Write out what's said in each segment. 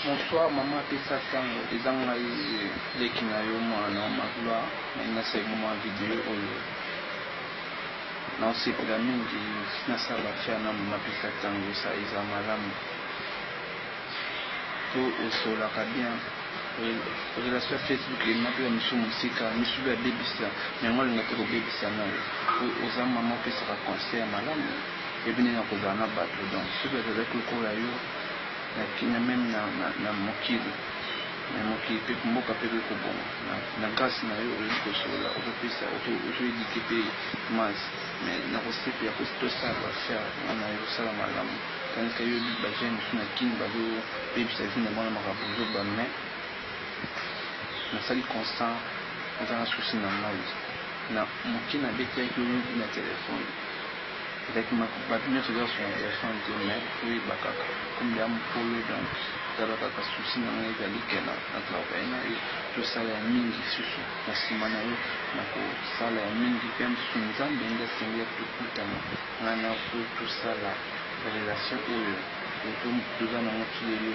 Bonsoir maman pesa tango eza ngai leki na yo muana magloire naye nasengi mua video oyo naosepela mingi nasala ba fier na maman pesa tango sa eza malamu po osolaka bien relation ya facebook emema pe bamisu mosika misu pe abebisa yango alinga te kobebisa nayo po oza mama opesaka conseil ya malamu ebi ndenge ya kozala na bato donc soki bazalaki lokola yo na kimia meme na mokili mais mokili pe mboka pe ekoki kobonga na grace na yo oyebi kosolola ozo pesa ozo eduque pe masse mais na kosepela po tosala ba affaire nga na yo osala malamu tandis que yo ba jeunes mosusu na kin bazo bebisa vie na bango na makambo ya buzoba mais nasali constant naza na souci na moi na moke na betaki yo na telephone Ezalaki makambo batu nionso eza sonorisation te mais oyeba kaka comme dejà mukolo donc tala kaka souci na ngai ezali que na na travailler na yo tosala ya mingi lisusu na sima na yo nako sala ya mingi pe lisusu nzambe nde asengi ya tokutana ngai na yo po tosala relation oyo toza na ngo ti lelo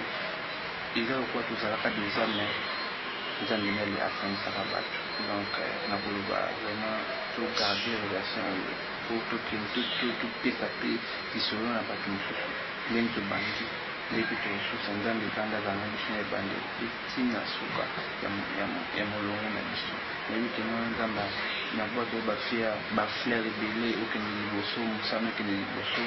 eza lokola tozalaka dejà mais nzambe nde asangisaka batu donc nako loba vraiment to garder relation oyo. Faut tokende to topesa pe lisolo na batu mususu ndenge tobandi nde pe tokosusa nzambe vanda azala na biso na ebandeli pe ti na suka ya molongo na biso nayebi ke muana nzambe na buaka yo ba fleur ebele okende liboso musala ekende liboso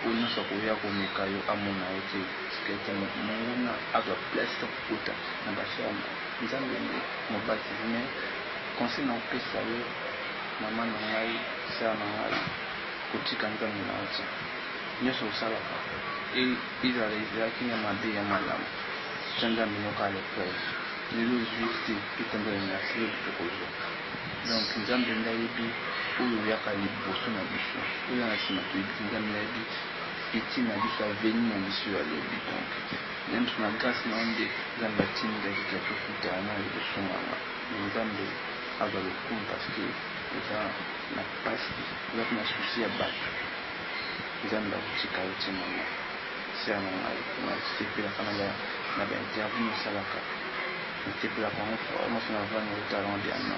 oyo nionso akoya komeka yo amona yo te tika te monguna azua place to kokota na ba ferme nzambe nde mobatisi mais conseil na kopesa yo Mama na ngai, sœur na ngai, kotika Nzambe na yo te. Nionso osalaka, ezala ezalaki na mabe ya malamu, tia Nzambe na yo kaka na epreuve. Lelo ozui te, tokomi na nasi, lobi tokozua. Donc Nzambe nde ayebi oyo oyaka liboso na biso, oyo oza na sima toyebi te. Nzambe nde ayebi futur na biso, avenir na biso ya lobi. Donc ngai mutu na grace na ye nde Nzambe atindi ngai kutu na tokutana na liboso na nga. Mais Nzambe. Aza lokumu parce que oza na pasi oza pe na souci ya batu nzambe akotika yo tse maman sœur na ngai na sepelaka na ba interview osalaka na sepelaka yango fort na fina vanda yo talent diana.